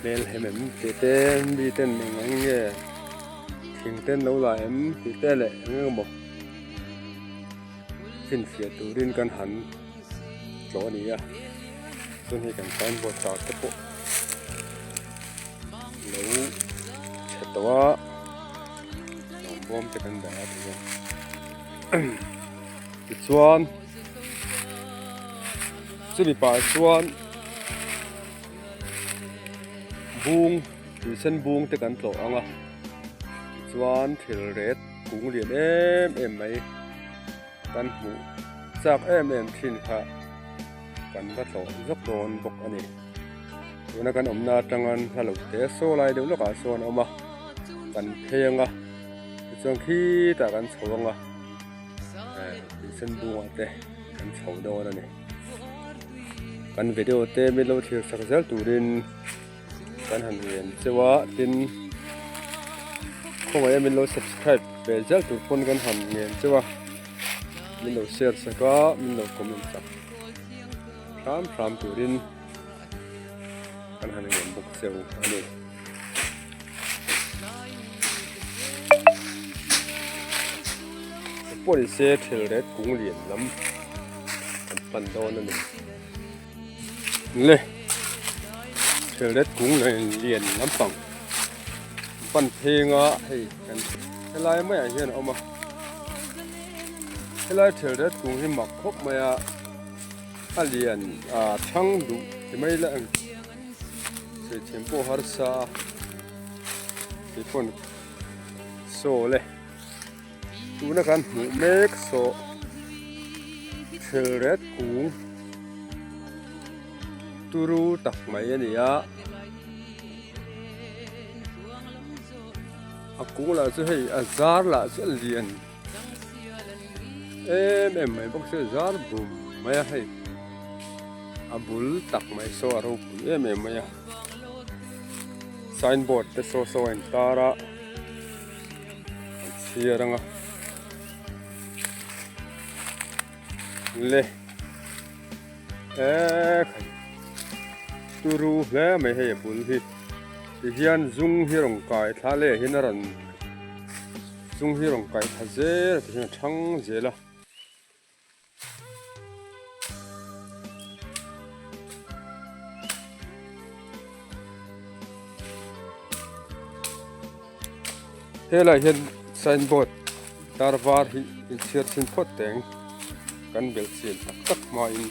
Hmel hem em tih te mi ten eng eng nge thing ten lo la em tih te leh eng eng maw chinfiah turin kan han tlo a ni a chuan hei kan sign board tar te pawh lo chhe tawh a bawm te kan dah a tichuan. Chuli pah chuan bung tuisen bung te kan tlawh ang a tichuan thil ret kung lian em em mai kan hmuh chak em em thin kha kan va tlawh zawk dawn bawk a ni tuna kan awmna atangan hla lo te saw lai deuh lawkah sawn a awm a kan pheng a tichuan khitah kan chho ang a. sen bunga te kan chho dawn a ni kan video te min lo thlir chak zel turin kan han rian cheu a tin khawmai a min lo subscribe ve zel tur pawn kan han ngen cheu a min lo share sak a min lo comment sak hram hram turin Kan han ngen bawk cheu a ni. Pawhin se thil ret kung lian lam kan pan dawn a ni. Le thil ret kung lian lam pang pan phenga hei kan helai mai a hian awm a. Helai thil ret kung hi mak khawp mai a. A lian a chhang duh ti mai la ang. Hrethiam pawh harsa a. Kei pawn saw le. Tuna kan hmuh mek saw Thelret kung turu tak mai a ni a. A kung lah chu hei a zar lah chu a lian. em em mai bawk se zar bum mai a hei a bul tak mai saw a ropui em em mai a sign board te saw saw a in tar a an chhiar ang a le eh turu hle mai hei a bul hi tihian zung hi rawn kai thla leh hi a rawn Chung hi rawn kaih tha zel a ti hian a thang zel a. Helai hian signboard tar var hi in chhiar chin phawt teng kan belh chin tak tak hmain.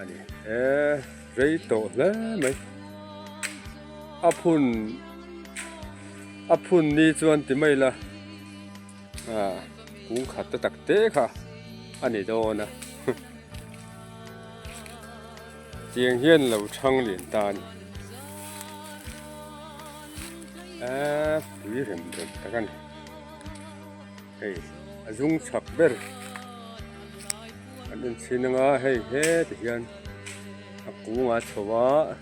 ani e rei tawh hle mai a phun a phun ni chuan ti mai la a ah, kung khat ta tak te kha ani dawn a chiang hian lo thang lin ta ni a pui rem rem tak ani Hei a zung chak ber an inchhin anga hei he ti hian a kung a chho a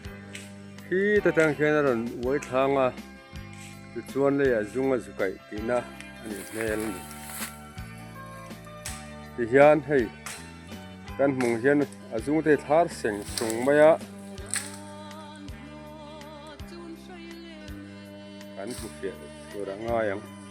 khi ta tang hian a rawn uai thlang a tichuan lei ah zung a zu kaih tihna a nih hmel a ni ti hian hei kan hmuh ang hian a zung te hi thar seng sung mai a kan hmu fiah tur a ngai ang.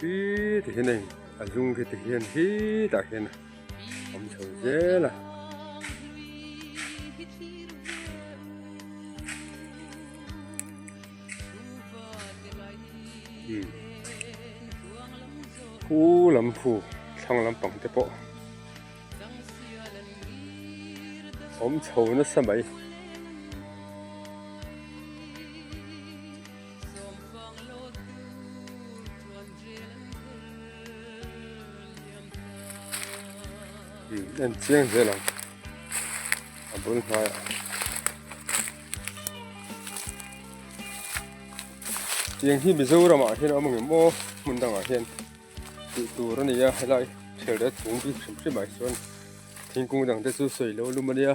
Hi ti hian hei a hnung khi ti hian khi tah hian a awm chho zel a. Pu lam phu thlang lampang te pawh awm chho nasa mai. en chiang zel ang a bul hnuai ah tiang hi mizoram ah hian awm angemaw hmun dang ah hian tih tur a nia helai hriamreh chhung bik hrim hrim ah chuan thingkung dang te chu sawi lo lum a nia.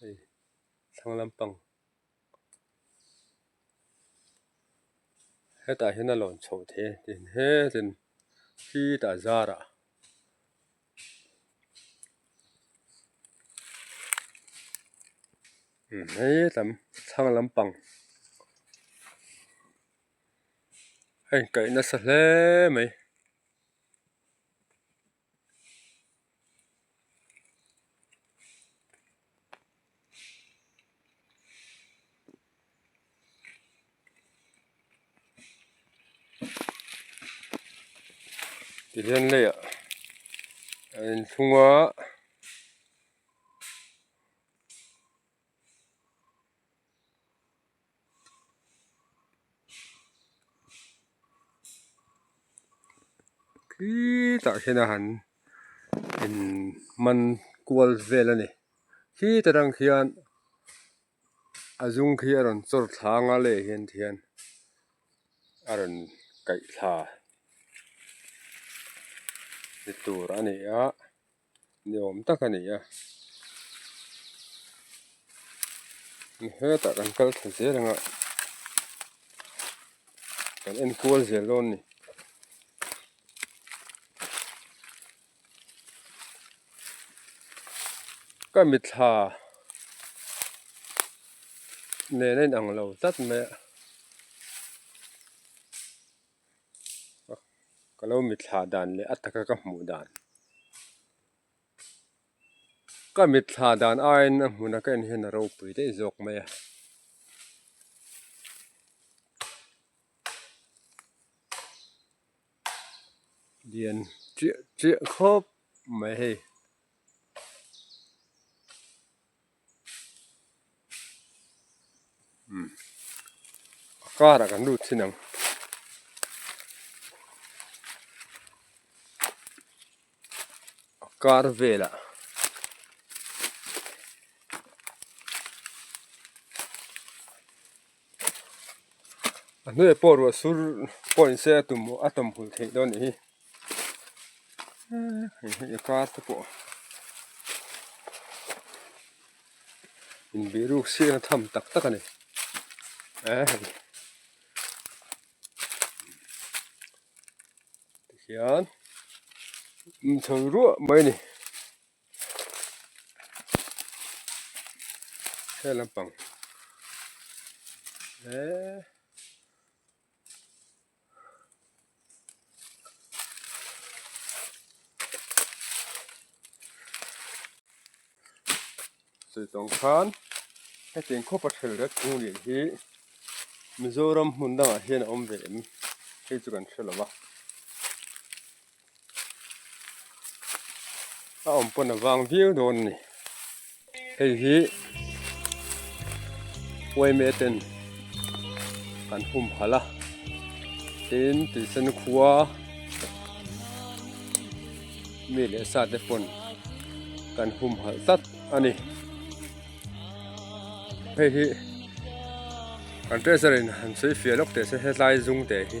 hei thlang lampang hetah hian a lawn chhoh theih a eng he chen khitah zarah imm he lam thlang lampang a inkaih nasa hle mai. ti hian lei ah a inthlung a. khitah hian a han in man kual vel a ni khitah tang khian a zung khi a rawn chawr thla anga leh hian tihian a rawn kaih thla ni tur a ni a. ni awm tak a ni a ni hetah kan kal thei zel anga kan enkual zel dawn a ni. Ka mitthla nen a inang lo tlat mai a. ka lo mitthla dan leh a taka ka hmuh dan ka mitthla dan aiin a hmuna ka en hian a ropui daih zawk mai a. Lian chiah chiah khawp mai hei. a kar ah kan lut thin ang. A kar vel ah a hnuaih pawh ruah sur pawh an insiam a a tawm hul theih dawn nih hi. hei hei a car te pawh inbiruk siakna tham tak tak a ni tikhian inchhawng ruah mai a ni heng lampang eehh. Saitawng khan hetiang khaw paw ṭhel riat kung leh hi Mizoram hmun dangah hian a awm ve em? Thei chu kan hre lo va. a awm pawn a vang viau dawn a ni hei hi wayment ten an hum halh a tin tuisan khua mi leh sa te pawn kan hum halh tlat a ni hei hi an treasure in han sawifiah lawk teh se hetlai zung te hi.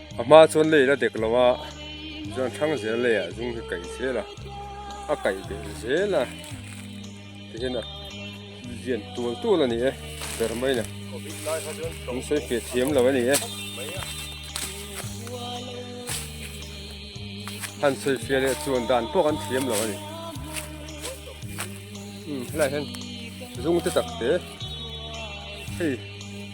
A hma chuan lei la dek lo a, chuan thlâng zel leiah a zung hi kaih zel a, a kaih beh zel a, tihian a lian tual tual a ni e, ber mai nè, min sawi feh thiam lo a ni e, han sawi feh leh chuan dan pawh kan thiam lo a ni, umm helaiah hian zungte tak te hei.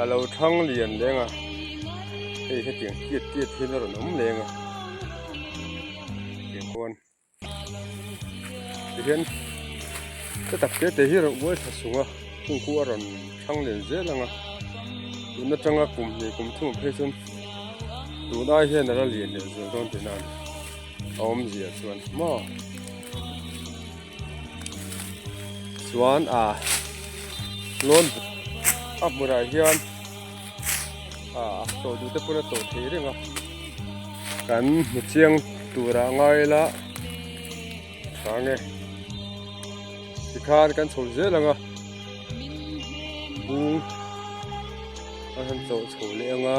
a lo thlang lian leng a hei hetiang kiat kiat hian a rawn awm leng a tiang khawn tihian heta tak te te hi a rawn uai thla sung a chungkua a rawn thlang lian zel ang a tuna tanga kum hnih kum thum ang phei chuan tunai hian a la lian lian zo dawn tihna a ni a awm zia chuan maw. chuan ah loan buk a hmunah hian ah chaw duhte pawh a chaw theih reng a kan hmu chiang tura ngai la sange ti khan kan chho zel ang a bung a han chaw chho leh ang a.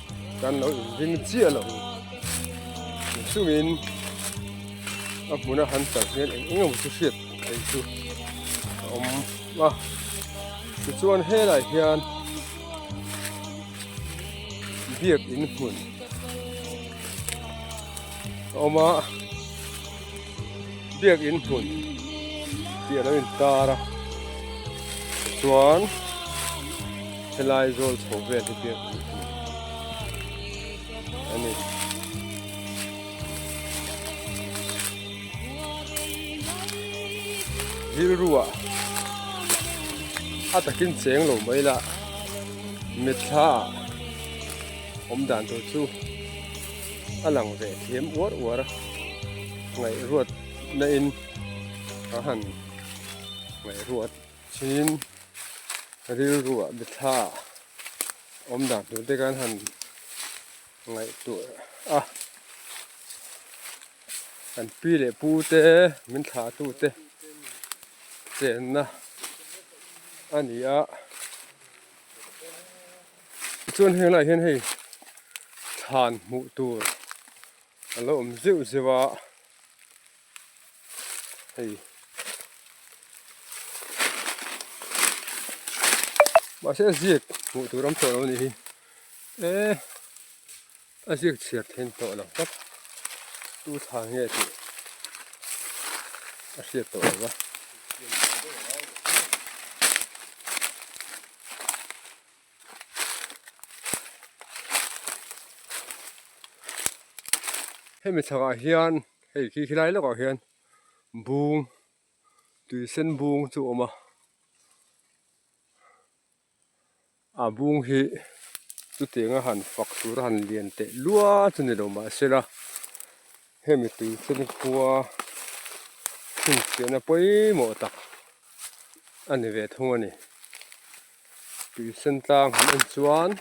kan lo ving chiah lo chungin a hmuna han tlar hian eng eng emaw chu hriat theih chu a awm a tichuan helai hian biak in hmun a awm a biakin hmun tih a lo intar a tichuan helai zawl chho vel hi biakin hmun a ni rilrua a takin cheng lo mai la mitthla awm dan tur chu a lang ve thiam uar uar a ngaihruat na in a han ngaihruat thin rilruah biathla awm dan tur te khan han ngaih tur a kan pi leh pu te min thlah tu te chenna a ni a. Tichuan heng laiah hian hei thlan hmuh tur a lo awm zeuh zeuh a, hei mahse a ziak hmuh tur awm tawh lo ni hi e a ziak chhiar theih in tawh lo tak tu thlan nge tih a hriat tawh lo va. hemi thlalakah hian hei khi khi lai lawkah hian bung tui sen bung chu a awm a a bung hi chutianga han fak tur a han lian teh lual chu ni lo mahse la-- Hemi tui chu ni khua chhun chhiah na pawimawh tak a ni ve thung a ni. Tui sen tlang han en chuan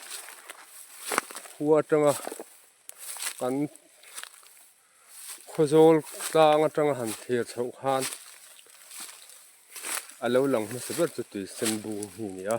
khua atanga kan khaw zawl tlang atanga han thlir chho khan a lo lang hmasa ber chu tui sen bung hi a ni a.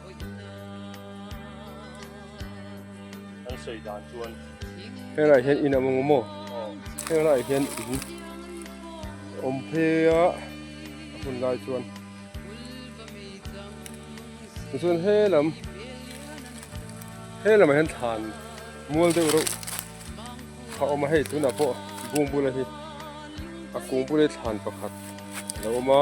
An sawi dan chuan he lah hian in a awm maw? He lah hian in awm phe a a hun lai chuan chuan he lam he lamah hian thlan mual deuh reuh a awm a hei tunah pawh bung bula hi a kung pute thlan pakhat a lo awm a.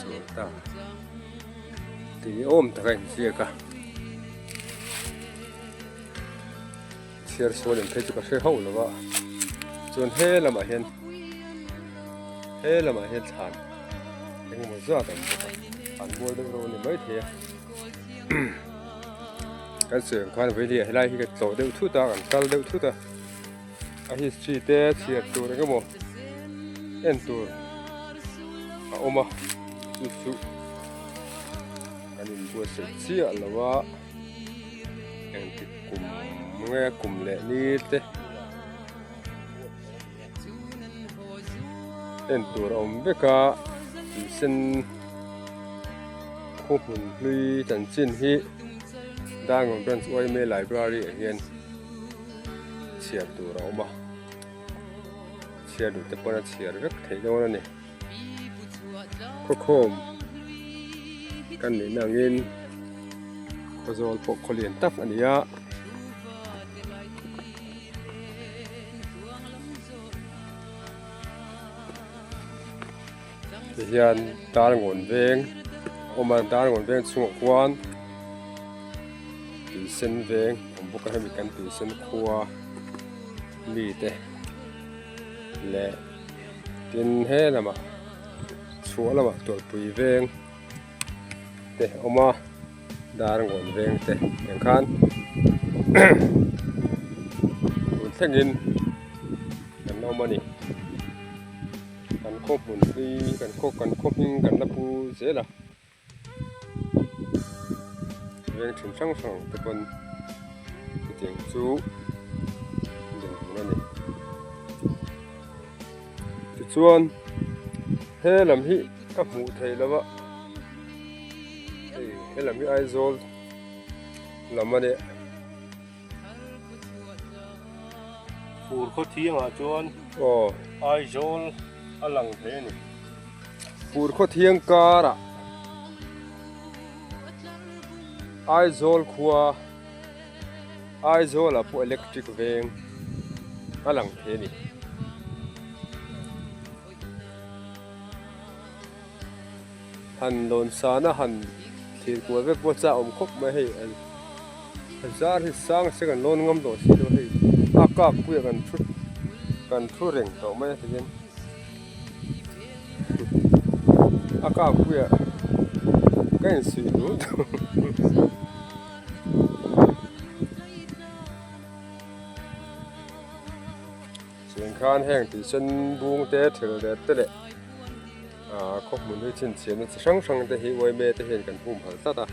Chawlh ta. Tui ni awm taka infiak a. Chhiar sual in phei chu ka hre hauh lo a. Chuan he lamah hian he lamah hian thlan engemaw zat awm bawk a. Thlan bual deuh reuh a ni maithei a. Kan suihah khan vawileh helai hi ka tlawh deuh thut a, kan kal deuh thut a. A history te chhiar tur engemaw en tur a awm a chu chu kan inbuatsaih chiah lo a engtik kum nge kum leh lir te en tur a awm vek a tui sen khaw hmun hlui chanchin hi Dangawng branch yma library ah hian-- chhiar tur a awm a chhiar duh te pawh a chhiar vek theih dawn a ni khawkhawm kan nih na angin khaw zawl pawh khaw lian tak a ni a Hei hian dar ngawn veng awm a dar ngawn veng chungah khuan tui sen veng a awm bawk a hemi kan tui sen khua mi te leh tin he lamah chhuah lamah tawlhpui veng te a awm a dar ngawn veng te veng khan tun thlengin kan awm a ni. Kan khaw hmun hi kan khaw kan khaw hming kan la pu zel a veng thin hrang hrang te pawn hetiang chu dawr hmun a ni tichuan he lam hi ka hmuh theih lo a hei he lam hi Aizawl lam a ni. Fur khaw thiangah chuan Aizawl a lang hle a ni. Fur khaw thiang karah Aizawl khua Aizawl a pawh electric veng a lang thei a ni. Han lawn san a han thir kual vek pawh chah awm khawp mai hei an a zar hi sang se kan lawn ngam tawh si lo hei a kak pui ah kan thu kan thu reng tawh mai a ti hian a kak pui ah ka in suih duh duh. Chhûng khân hêng tui sen bûng te, thîl dêt te leh aaa khawpui nui chhinchhiahna chi hrang hrang te hi uaime te hian kan hum hal tlat a.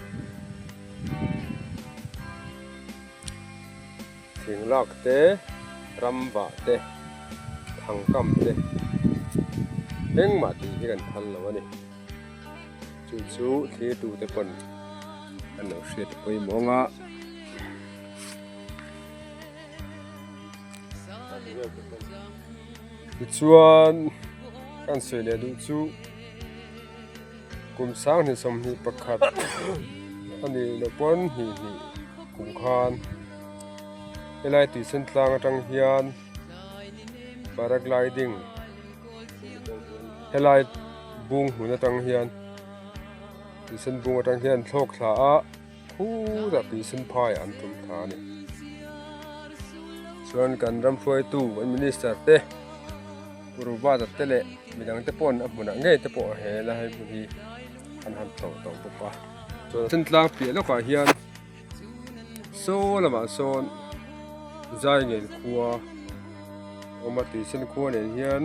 Thîng lâk te, ram vah te, thang kam te eng mah tih hi kan phal lo a ni. Chu chu thlir tu te pawn an lo hriat pawimawng a. tichuan kan sawi leh duh chu kum sang hnih sawmhnih pakhat a nih loh pawn hnih hnih kum khan helai tuichhen tlang atang hian paragliding helai bung hun atang hian tuichhen bung atang hian an thlawk thla a. Phur a pinsin phai an tum tha a ni. Chuan kan ram hruaitu kan minister te, Guru Bata te leh midang te pawh a hmunah ngei te pawh he la hei hmun hi an han tho tho bawk a. Chuan Chantlang piah lawkah hian saw lamah sawn Zaingel khua awm a, tuichhen khua nen hian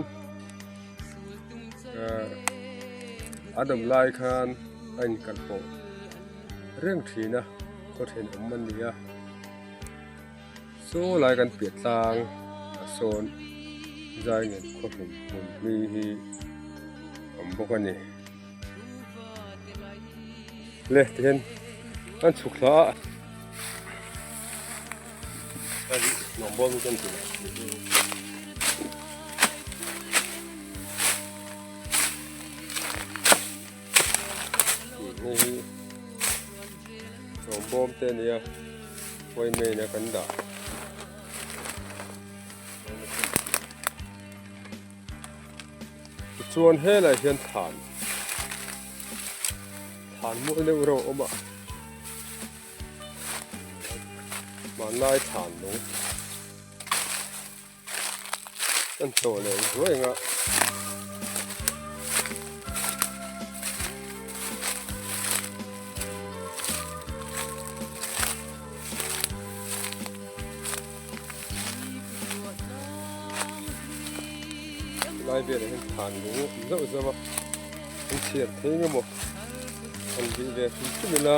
a dawm lai khan a inkalh pawh. reng thin a khaw then awm a ni a saw lai kan piah tlang a sawn zai nghet khaw hlim hmun hli hi awm bawk a ni leh tih hian an chhuk thla a nuam bawm chuan tih Hei hi sawm bawm te a ni a khawi main a kan dah tichuan helaiah hian thlan thlan mawi deuh reuh a awm a hmanlai thlan a ni. Kan tawh leh ruai nga. Lai bia leh hen than lu zau zau a. Kan chiat thei nga mo. Kan bi ve thum thum ila.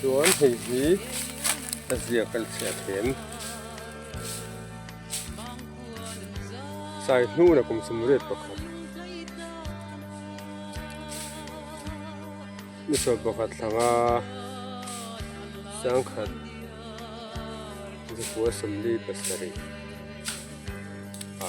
Chuan hei hi a ziak kan chhiah thiam. Sai hnuna kum sum ret pakhat. Misaw pakhat thlanga sangkhat zupua sawmli pasarih a.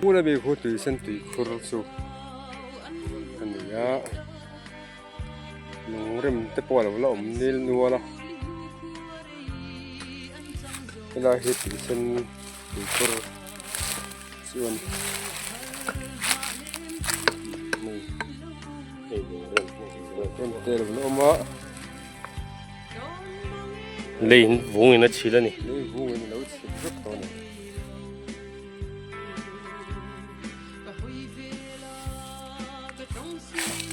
Pu Rabi khu tui sen tui khur chu a ni a, lung rem te pawh a lo la awm nghil nual a, helai hi tui sen tui khur chu a ni lung rem te a lo la awm a. lei vung in a chhil a ni lei vung in lo chhil vek tawh a ni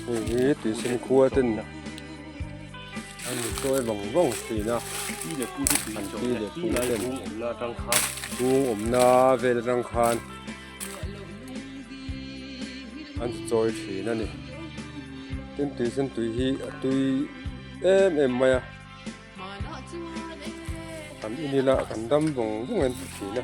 hei hi tuisin khua ten an ni sawi vang vang thin a ti leh pu te ti an ti leh pu ten vung awmna vel atang khan an chawi thin a ni tin tuisan tui hi a tui em em mai a kan in ila kan dam vawng vawng an ti thin a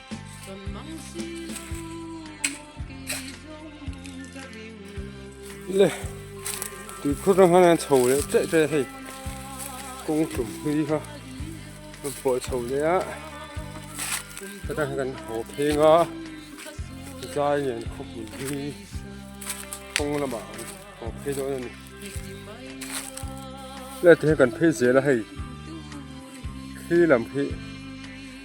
le tui phur ram hana chho le che che hei kong tum hi ha kan pawh chho le a ka ta kan ho pheng a zai ngen khop ni hi kong lama ho phei do ni le te kan phei zel a hei khi lam khi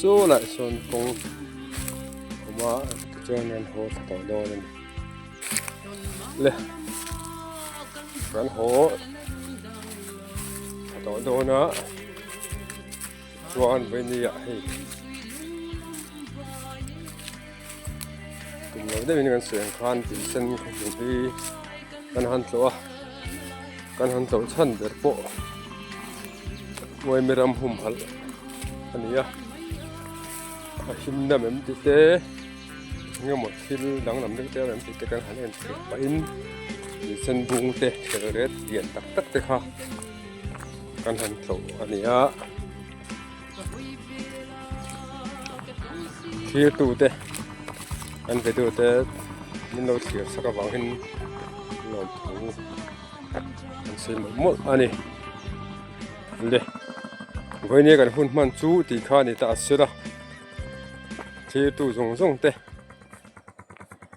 Saw lah sawn kawng awma tichuan an haw tha tawh dawn a ni le kan haw tha tawh dawn a tichuan vawini ah hei tum lo deuh in kan sawi ang khan tui sen thawhpui hi kan han tlawh a kan han tlawh chhan ber pawh ngawi mi ram hum halh a ni a a him dam em ti te eng emaw thil dang lam deuh deuh em ti te kan han en chhep pah in tui sen bung te hrelo ret lian tak tak te kha kan han tlawh a ni a. thlir tu te kan ve tu te min lo thlir sak avang in lawm thu an sawi mawlh mawlh a ni le vawinia kan hun hman chu tih kha a ni ta a sela thlir tu zawng zawng te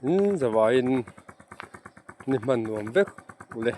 in zavaiin ni hman nuam vek uleh.